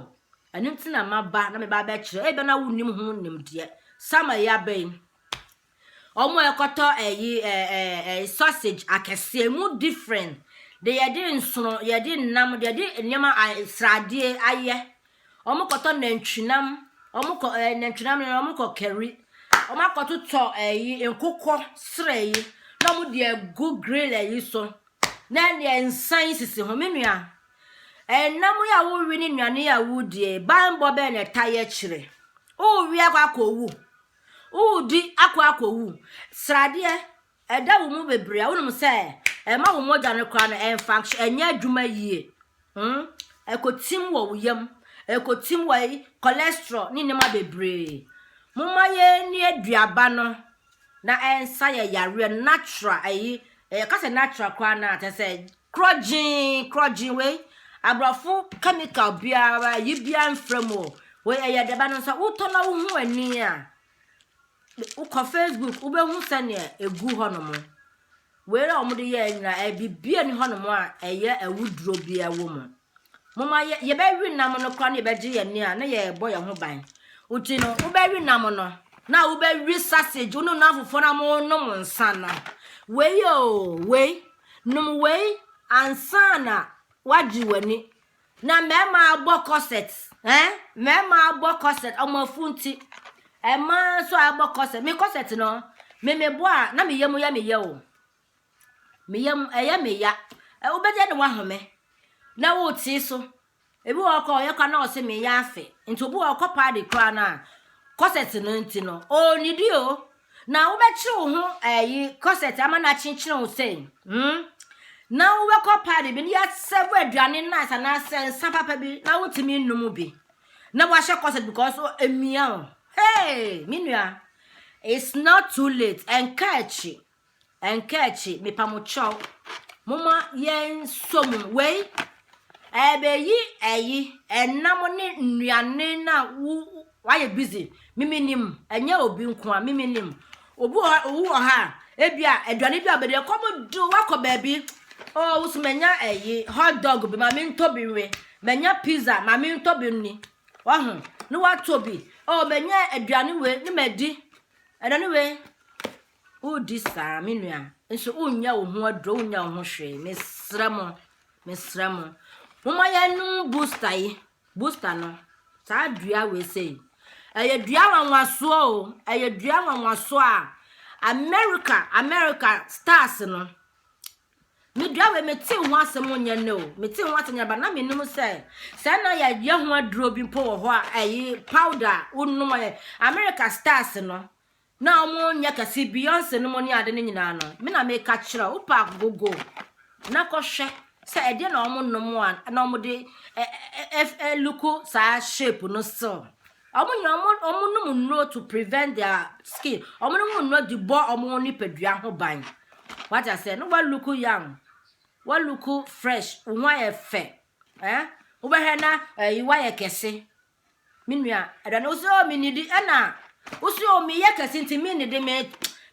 ɛno nti na maba na meba abɛkyerɛ ebe na wonim ho nimdeɛ sama yi abɛ yi ɔmo a ɛkɔtɔ ɛyi ɛɛ ɛɛ sausage akɛseɛ mu different de yɛde nsono yɛde nam de yɛde nneɛma sradeɛ ayɛ Wɔn kɔtɔ nantwinam. Wɔn kɔ ɛɛ nantwinam no wɔn kɔ kari. Wɔn akɔtotɔ ɛyi nkokɔ serɛ yi na wɔn de agu grill ɛyi so. Na ɛdeɛ nsa yi sisi ho me nua. Ɛnam yi a wowi ne nnuane yi a wodie banbɔ bɛn na ɛta yɛ kyerɛ. Wowi akɔ akɔ wu. Wodi akɔ akɔ wu. Sradeɛ Ɛda wo mu bebree a, wonim sɛ ɛma wo mogya no koraa no ɛnfunction, ɛnyɛ adwuma yie. Hmm? Ɛkɔtim wɔ wo yam, ɛkɔtim wɔ yi, cholesterol ne nneɛma bebree. Momma yɛnni aduaba no na ɛnsa yɛ yareɛ no natural ɛyi, ɛka sɛ natural koraa no a, kyɛ sɛ korɔgyee, korɔgyee wei, aborɔfo chemical biara, yi biara mfra mu o. Wei ɛyɛ aduaba no nsa, wotɔ na wohu ani a, Wokɔ Facebook wobɛhu sɛdeɛ ɛgu hɔnom. Wei a wɔde yɛɛ nyinaa ɛyɛ biribi a ɛni hɔnom a ɛyɛ awuduro bi a ɛwɔ mu. Moma yɛ yɛbɛwe nam no koraa na yɛbɛgye yɛn ani a na yɛrebɔ yɛn ho ban. Nti no wobɛwe nam no na wobɛwe sausage wo ne nam fofoɔ na monom nsa no. Wei o wei nom wei ansa na wagye w'ani Na mmarima abɔ corset eh mmarima abɔ corset wɔn afunti mmaa nso abɔ corset me corset no me me bɔ a na me yam yɛ me yɛ o me yam ɛyɛ me ya wobɛgye ne wahome na wote so ebi wɔ hɔ kɔ ɔyɛ kwa na ɔse me yɛ afe nti obi wɔ hɔ kɔ paadi koraa no a corset no nti no ɔnnidi o Na wobɛkyere wo ho ɛyi kɔsɛt ama no akyenkyene wo sɛ hmm? na wobɛkɔ paadi bi na yɛasɛvo aduane nice anaasɛ nsa papa bi na wotumi nnom bi na wahyɛ kɔsɛt because emia wo hey me nua it's not too late ɛnka akyi Ɛnkaakyi, mepamokyɛw, momma yɛnsɔ mu. Wei, ɛbɛyi ɛyi, ɛnam ne nnuane no a wo, wayɛ busy. Mimi nim, ɛnyɛ obi nko a, mimi nim. Obi wɔ hɔ, owu wɔ ha a, ebi a, aduane bi a ɔbɛdi, ɛkɔm de wakɔ baabi. O, oh, wusu manya ɛyi, hot dog bi, ma mentɔ bi nwe. Manya pizza, ma mentɔ bi nni. Wahu, ne watɔ bi. O, oh, manya aduane wei, ne madi. Aduane wei. Wodi saa me nua nso wonya wo ho aduro wonya wo ho hwee mesrɛ mo mesrɛ mo moma yɛnom booster yi booster no saa dua wei sei ɛyɛ dua nwanwasoɔ o ɛyɛ dua nwanwasoɔ a America America stars no me dua wei mete ho asɛm nyɛ no o mete ho asɛm nyɛ ba na menom sɛ sɛ na yɛyɛ ho aduro bi mpo wɔ hɔ a ɛyi powder wonom America stars no Na ɔmo nyɛ kɛse Beyonce nom ne ade no nyinaa no me na meka kyerɛ wo pack go go na kɔ hwɛ sɛ ɛdeɛ na ɔmo nom a na ɔmo de ɛluku saa shape no still ɔmo nyɛ ɔmo ɔmo nom nnuro to prevent their skin ɔmo nom nnuro de bɔ ɔmo nipadua ho ban wate aseɛ no wa look young wa look fresh wo ho ayɛ fɛ eh wobɛhwɛ na ɛyi wa yɛ kɛse Me nua, ɛda no sɛ o mennidi ɛna wosɛ o meyɛ kɛse nti mennidi me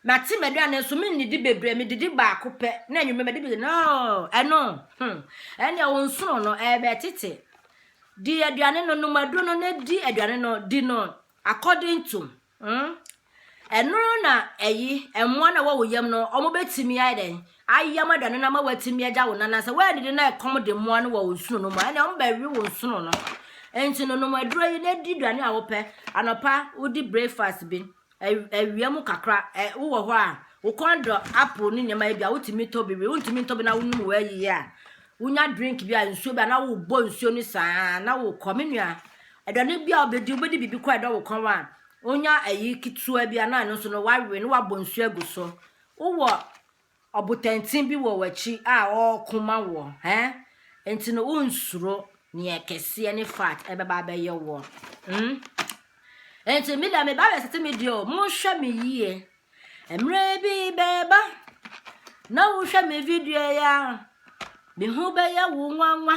mate m'aduane nso mennidi bebree medidi baako pɛ na anwummerɛ madi bi no ɛno hmm ɛnna wo nsono no ɛbɛtete di aduane no nom aduro no na di aduane no di no according to Hmm? Ɛno na ɛyi mmoa na wɔwɔ yam no wɔbɛtumi ayɛ dɛn ayam aduane no ama wɔatumi agya wo nana sɛ wɔannidi na ɛkɔm de mmoa no wɔ wo nsono no mu ɛnna wɔbɛwe wo nsono no nti no nom aduro yi na di aduane a wopɛ anɔpa wodi breakfast bi awia mu kakra wowɔ hɔ a wokɔn dɔ apple ne nneɛma bi a wotumi tɔ bi wi wontumi ntɔ bi na wonom wɔ ayiyi a Wonya drink bi a nsuo bi a na wobɔ nsuo no saa na wokɔ me nua aduane bi a wobɛdi wobɛdi biribi kɔ ɛdɔ wo kɔn a wonya ayi ketewa bi a na ɛno nso no wawe na wabɔ nsuo agu so wowɔ ɔbotantin bi wɔ w'akyi a ɔreko ma wɔ hɛ nti no wonsuro neɛ kɛseɛ ne fat ɛbɛba abɛyɛ wɔ hmm? nti me da meba resete me deɛ o monhwɛ me yie Mmerɛ bi bɛɛba na wohwɛ me video yi a, me ho bɛyɛ wo nwanwa.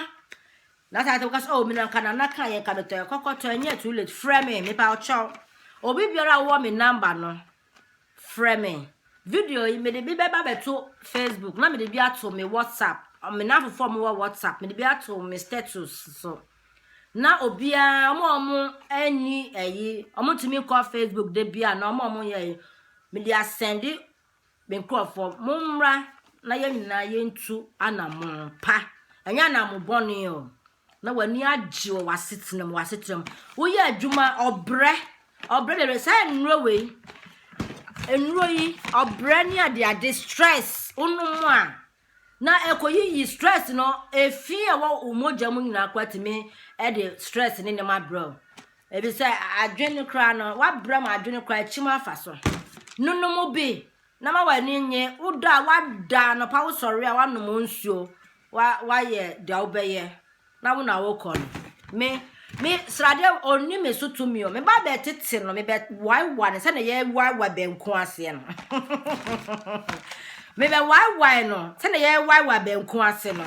Na saa te wokasa, oh, me nanka nana ka yɛ nka metɔ ɛkɔkɔtɔ ɛnyɛ too late, frɛ me, mepa ɔkyɛw. Obi biara wɔ me namba no, frɛ me. Video yi mede bi bɛba bɛto Facebook na mede bi ato me WhatsApp, me nanfofoɔ mo wɔ WhatsApp, mede bi ato me status so. So. na obiara ɔmo a ɔmo ɛni ɛyi ɔmo ntumi nkɔ facebook de bi a na ɔmo a ɔmo yɛ yi mede asɛnde me nkorɔfoɔ mo mmra na yɛn nyinaa yɛntu anamon pa ɛnyɛ anamon bɔne o na w'ani agye wɔ w'asetena mu w'asetena mu woyɛ adwuma ɔbrɛ ɔbrɛ bebree saa nnuro wei nnuro yi ɔbrɛ ne adeade stress wonom a Na ɛkɔyiyi stress no, efi a ɛwɔ wo mogya mu nyinaa koraa tumi de stress ne nneɛma brɛ wo. Ebi sɛ adwene no koraa no, wabrɛ ma adwene koraa akyim afa so. Nonom bi na ma w'ani nye, woda a wada anɔpa wosɔre a wanom nsuo, wa wayɛ deɛ wobɛyɛ. Na wo na wokɔ no. Me, me sradeɛ ɔnni me so tumi o. Me ba bɛ tete no, me bɛ waewa no sɛdeɛ yɛ waewa bɛnko aseɛ no. me bɛ waewa no sɛdeɛ yɛ waewa bɛnko ase no.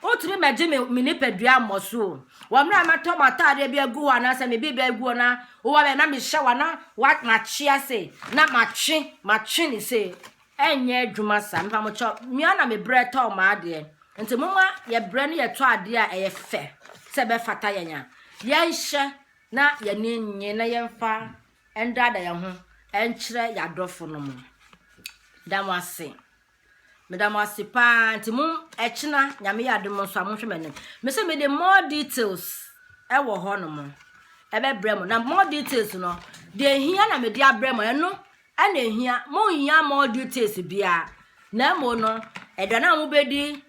Wotumi ma gye me me nipadua mmɔ so o. Wɔ mmerɛ a mɛtɔ m'ataadeɛ bi agu hɔ anaasɛ me biribi agu hɔ na wowɔ bɛ na mehyɛ wa na wa matwe ase na matwe matwe ne se. ɛnyɛ adwuma saa mepa mo kyɛw mia na me brɛ tɔɔ maa deɛ nti mo ma yɛ brɛ ne yɛ tɔ adeɛ a ɛyɛ fɛ sɛ ɛbɛ fata yɛn a yɛn hyɛ na yɛn ni nye na yɛn fa ɛndaada yɛn ho ɛnkyerɛ yɛ adɔfo no mo da mo ase me da mo ase paa nti mo ɛkyina nyame yɛ ade mo nso a mo nhwɛ m'anim me sɛ me de more details ɛwɔ hɔ no mo ɛbɛ brɛ mo na more details no deɛ hia na me de abrɛ mo ɛno Ɛna ehia, monhia more details biara, na mmom no, ɛda no a mobɛdi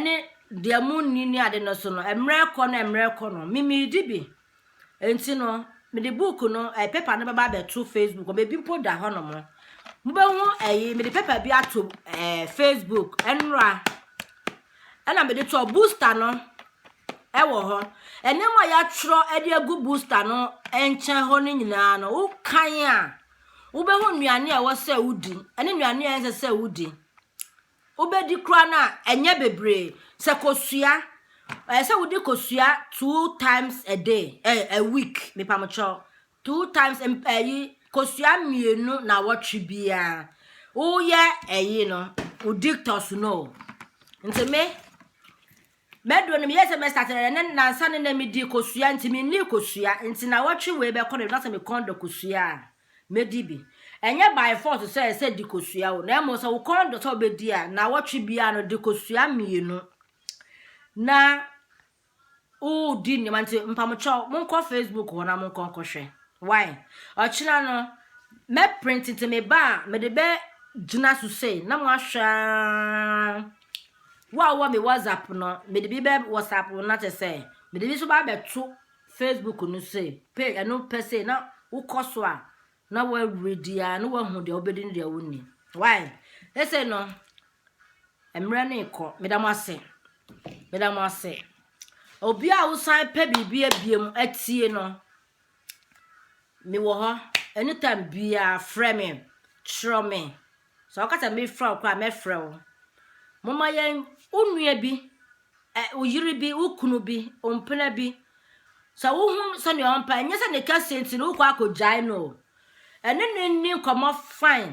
ne deɛ monni ne ade no so no, mmerɛ kɔ no mmerɛ kɔ no, memedi bi. Nti no, mede book no, eh, paper no bɛba abɛto Facebook, ɔbɛbi mpo da hɔ nom. Mobɛhu ɛyi, mede paper bi ato eh, Facebook, ɛnora. Ɛna mede toɔ booster no, ɛwɔ hɔ. Ɛnneɛma a yɛatwerɛ de agu booster no nkyɛn hɔ no nyinaa no, wokan a, wobɛhu nnuane a ɛwɔ sɛ wodi ne nnuane a ɛnsɛ sɛ wodi wobɛdi koraa no a ɛnyɛ bebree sɛ kosua ɛyɛ sɛ wodi kosua two times a day ɛ eh, a week mepamokyɛw two times ɛyi eh, kosua mmienu na wɔtwe biara woyɛ ɛyi no wodi tɔso no nti me Mɛduru no meyɛɛ sɛ mɛstate no ɛnɛ nansa no na medii kosua nti mennii kosua nti nawɔtwe wei bɛkɔ no na sɛ me kɔn dɔ kosua a mɛdi bi. Ɛnyɛ by force sɛ ɛsɛ di kosua o na mmom sɛ wo kɔn dɔ sɛ wobɛdi a nawɔtwe biara no di kosua mmienu na wodi nneɛma nti mpamokyɛw monkɔ Facebook hɔ na monkɔ nkɔhwɛ why ɔkyena no mɛprint nti meba a mede bɛ gyina so sei na moahwɛ a Wo a wowɔ me WhatsApp no, mede bi bɛ WhatsApp no na kyɛ sɛ mede bi nso ba abɛto Facebook no so page ɛno pɛ sɛ na wokɔ so a na woaredi a na woahu deɛ wobɛdi ne deɛ wonni. Why? Ɛsɛ no mmerɛ no rekɔ meda mo ase meda mo ase obi a wosan pɛ biribi abie mu atie no Mewɔ hɔ anytime biara frɛ me kyerɛ me sɛ ɔka sɛ mefrɛ wo koraa mɛfrɛ wo moma yɛn wo nua bi wo yere bi wo kunu bi wo mpena bi sɛ wohu sɛnea ɔmpa ɛnyɛ sɛ ne kɛseɛ nti no wokɔ akɔgyae no o ɛne ne nni nkɔmmɔ fine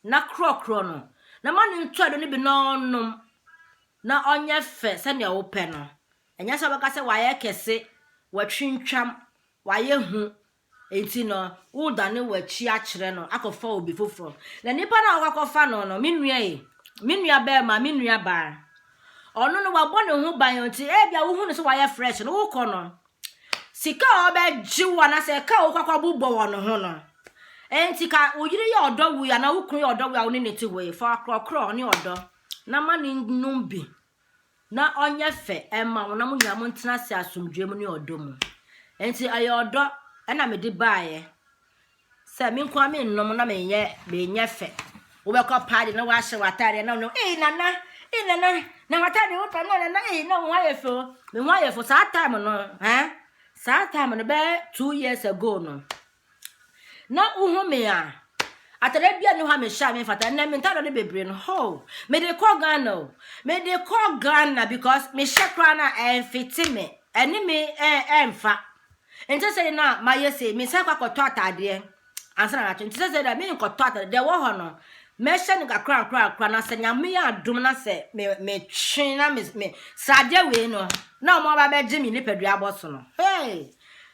na korɔkorɔ no na ma ne ntɔɛdo no bi na ɔnom na ɔnyɛ fɛ sɛnea wopɛ no Ɛnyɛ sɛ wobɛka sɛ wayɛ kɛse, watwintwam, wayɛ hu, enti no woredane w'akyi akyerɛ no akɔfa obi foforɔ. Na nipa no a woakɔ akɔfa no no, me nua ei, me nua barima, me nua baa, ɔno no wabɔ ne ho ban enti ebia wohu no sɛ wayɛ fresh no, wokɔ no, sika a ɔbɛgye wo anaasɛ ɛka a wokɔ akɔbobɔ wɔ ne ho no, enti ka wo yere yɛ ɔdɔ wo yi anaa wo kunu yɛ ɔdɔ wo yi a wo ne no te hɔ yi, fa ɔkorɔkorɔ ne ɔdɔ na ma no nnom bi na ɔnyɛ fɛ mma wo na mo nyinaa montena ase asomdwoeɛ mu ne ɔdɔ mu. Enti ɛyɛ ɔdɔ na mede baeɛ sɛ me nko ara mennom na menyɛ menyɛ fɛ. Wobɛkɔ paa de na woahyɛ w'ataadeɛ na wonom ee nana ee nana na w'ataadeɛ wo fɛ no nana ee na wo ho ayɛ fɛ o me ho ayɛ fɛ saa time no eh saa time no bɛyɛ two years ago no na wohu me a atare bia ne hɔ a mehyɛ a memfata ɛnɛ me ntare no bebree no ho mede kɔ ghana o mede kɔ ghana because mehyɛ koraa no a ɛmfete me ɛne me ɛmfa nti sɛ na mayɛ sei mesan kɔ akɔtɔ ataadeɛ ansa na natwe nti sɛ sɛ dɛ menkɔtɔ ataadeɛ deɛ wɔ hɔ no mɛhyɛ no kakra kakra kakra na sɛ nyame yɛ adom na sɛ metwe na me sradeɛ wei no na ɔmo aba bɛgye me nipadua abɔ so no hey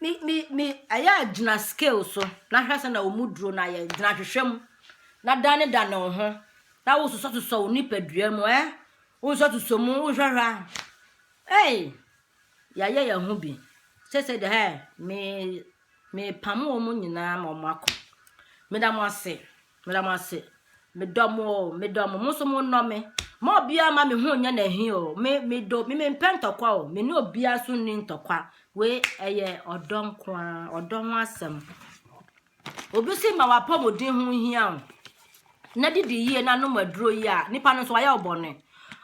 Me me me ɛyɛ a gyina scale so na hwɛ sɛ na wɔn mu duro no ayɛ gyina hwehwɛ mu na dane dane wo ho na wososɔsosɔ wo nipadua mu ɛ wososɔsosɔ mu wohwɛhwɛ a ɛy yɛayɛ yɛn ho bi sɛ sɛ de ɛ me mepam wɔn nyinaa ma wɔn akɔ meda mo ase Meda mo ase. Medɔ mo o, medɔ mo. Mo nso mo nnɔ me. Ma obiara ma me ho nyɛ n'ahi o. Me medɔ, me mempɛ ntɔkwa o. Me ne obiara nso nni ntɔkwa. Wei ɛyɛ ɔdɔ nko ara, ɔdɔ ho asɛm. Obi si ma w'apɔmuden ho hia o. Na didi yie na nom aduro yie a, nipa no nso wayɛ wo bɔne.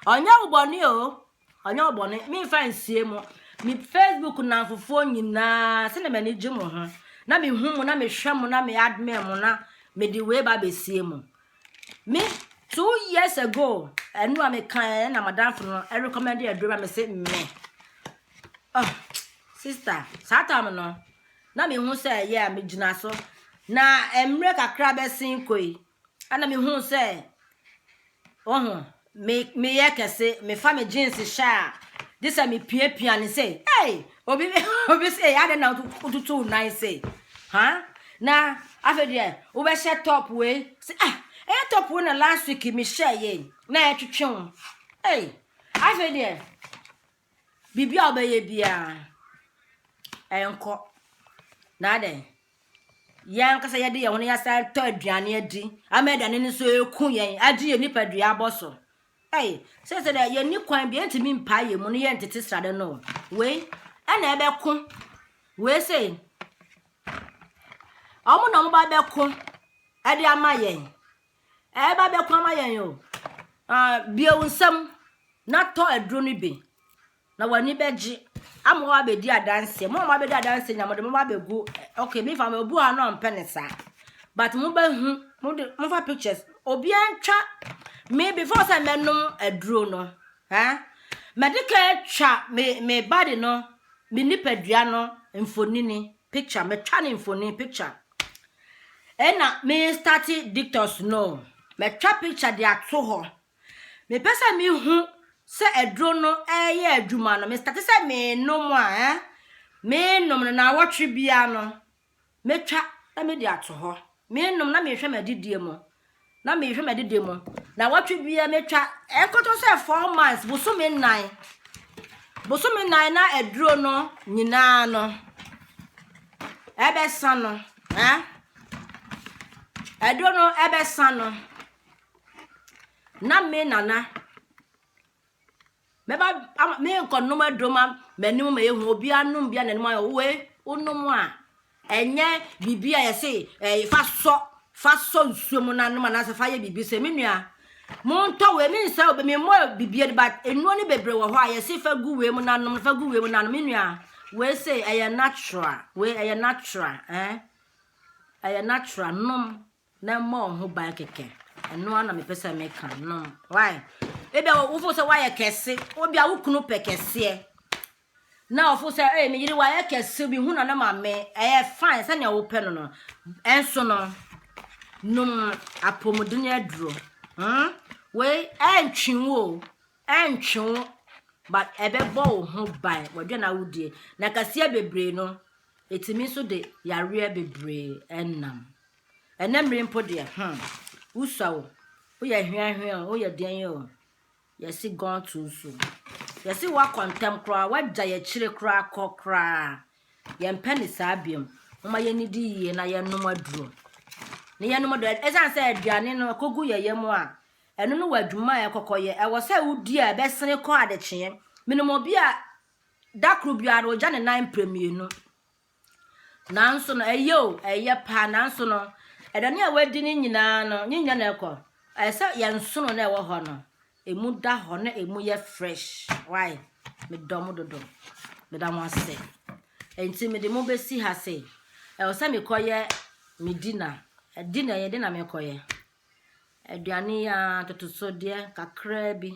Ɔnyɛ wo bɔne o, Ɔnyɛ wo bɔne, memfa nsie mo. Me Facebook nnamfofoɔ nyinaa, sɛdeɛ m'ani gye mo ho, na mehu mo, na mehwɛ mo, na me admire mo, na mede wei ba abɛsie mo. Me, two years ago, ɛno a meka ɛ na madamfo no recommend aduro ma me se me. Oh, sister, saa tam no, na mehu sɛ ɛyɛ a megyina so. Na mmerɛ kakra bɛsen kɔ yi, Ɛna me huu sɛ, wohu, me, me yɛ kɛse, me fa me jeans hyɛ a, gye sɛ me pia pia ne sɛ, hey, obi, obi sɛ, yɛ adɛ na wotutu wo nan sɛ, ha? Na afei deɛ, wobɛhyɛ top wei, sɛ, ah, ɛyɛ top wei na last week me hyɛ yɛ, na ɛtwetwe wo, hey, afei deɛ, Biribi a wobɛyɛ biara, ɛnkɔ. Na adɛn? Yɛn ankasa yɛde yɛn ho no yɛasan tɔ aduane adi ama aduane no nso ɛku yɛn agye yɛn nipadua abɔ so. Ei, sɛ sɛ dɛ yɛnni kwan bi ɛntumi mpaa yɛn mu no yɛntete srade no. Wei ɛna ɛbɛko. Wei sɛ wɔn na wɔn ba bɛko ɛde ama yɛn. ɛreba bɛko ama yɛn o ah, bie wo nsam na tɔ aduro no bi na w'ani bɛgye ama wɔ abɛdi adanseɛ mo a moabɛdi adanseɛ nyina mode moma abɛgu ok mefa ma obu ha no ɔmpɛ ne saa but mobɛhu mode mofa pictures obia ntwa me before sɛ mɛnom aduro no ha mɛde ka atwa me me body no me nipadua no mfonini Picture matwa ne mfoni picture ɛna me starte detox no matwa picture de ato hɔ mepɛ sɛ mehu sɛ aduro no ɛyɛ adwuma no me starte sɛ menom a eh? menom no na awɔtwe bia no matwa na mede ato hɔ menom na mehwɛ m'adidie mu na mehwɛ m'adidi mu na wɔtwe bia metwa ɛnkɔtɔ sɛ four months bosome nnan bosome nnan na aduro no nyinaa no ɛbɛsa no eh? aduro no ɛbɛsa no na me nana Mɛba ama menkɔnom aduro ma m'anim ma yɛhu obiara nom bi a n'anim ayɛ wo wei wonom a ɛnyɛ biribi a yɛse ɛɛ fa sɔ fa sɔ nsuo mu na nom anaasɛ fa yɛ biribi sɛ me nua montɔ wei me nsa obi me mmɔ biribi de but nnuro no bebree wɔ hɔ a yɛse fa gu wei mu na nom fa gu wei mu na nom me nua wei se ɛyɛ natural wei ɛyɛ natural ɛɛ eh? ɛyɛ natural nom Na mmɔ wo ho ban kɛkɛ. Ɛno ara na mepɛ sɛ meka no. Why? Ebia wofo sɛ woayɛ kɛse. Obia wo kunu pɛ kɛseɛ. Na ɔfo sɛ ɛyɛ me yere wayɛ kɛse bi hu na ne maame ɛyɛ fine sɛnea wopɛ no no. Ɛnso no nom apɔmuden aduro. Hmm? Wei ɛntwe wo o. Ɛntwe wo but ɛbɛbɔ wo ho ban wadwa na wodie. Na kɛseɛ bebree no ɛtumi nso de yareɛ bebree ɛnam. Ɛnnɛ mmere mpo deɛ, hmm, wosua o, woyɛ hweahwea o, woyɛ deɛn o, yɛse gone too soon. Yɛse woakɔ ntɛm koraa, woagya yɛkyire koraa kɔ koraa. Yɛmpɛ ne saa biom. Momma yɛnnidi yie na yɛnnom aduro. Na yɛnnom aduro. Ɛsiane sɛ aduane no ɛkɔgu yɛ yam a, ɛno no wɔ adwuma a ɛkɔkɔyɛ. Ɛwɔ sɛ wodi a ɛbɛsene kɔ adekyeɛ. Menim obi a da koro biara ɔgya ne nan mprɛ mmienu. Nanso no, ɛyɛ o, ɛyɛ paa, nanso no, ɛdane a wadi no nyinaa no, ne nyina na ɛkɔ. Ɛyɛ sɛ yɛn nsono na ɛwɔ hɔ no, emu da hɔ na emu yɛ fresh. Why? Medɔ mo dodo. Meda mo ase. Enti mede mo bɛsi ha se, ɛwɔ sɛ mekɔyɛ me dina. Dina yɛ de na mekɔyɛ. Aduane yi ara, atotosodeɛ kakraa bi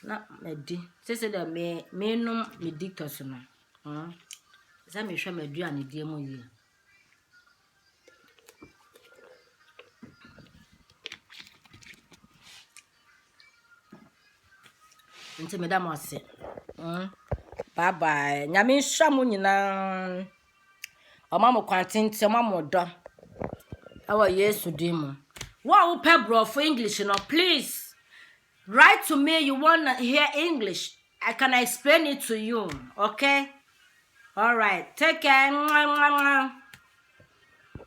na madi. Seesei deɛ me menom me detox no. Mm, sɛ mehwɛ m'aduanedie mu yie. Nti meda mo ase. Mm, bye bye. Nyame nhyira mo nyinaa. Wɔma mo kwan tenten, wɔma mo dɔ. Ɛwɔ Yesu din mu. Wo a wopɛ Borɔfo English no, please write to me you want to hear English. I can explain it to you. Okay? All right. Take care.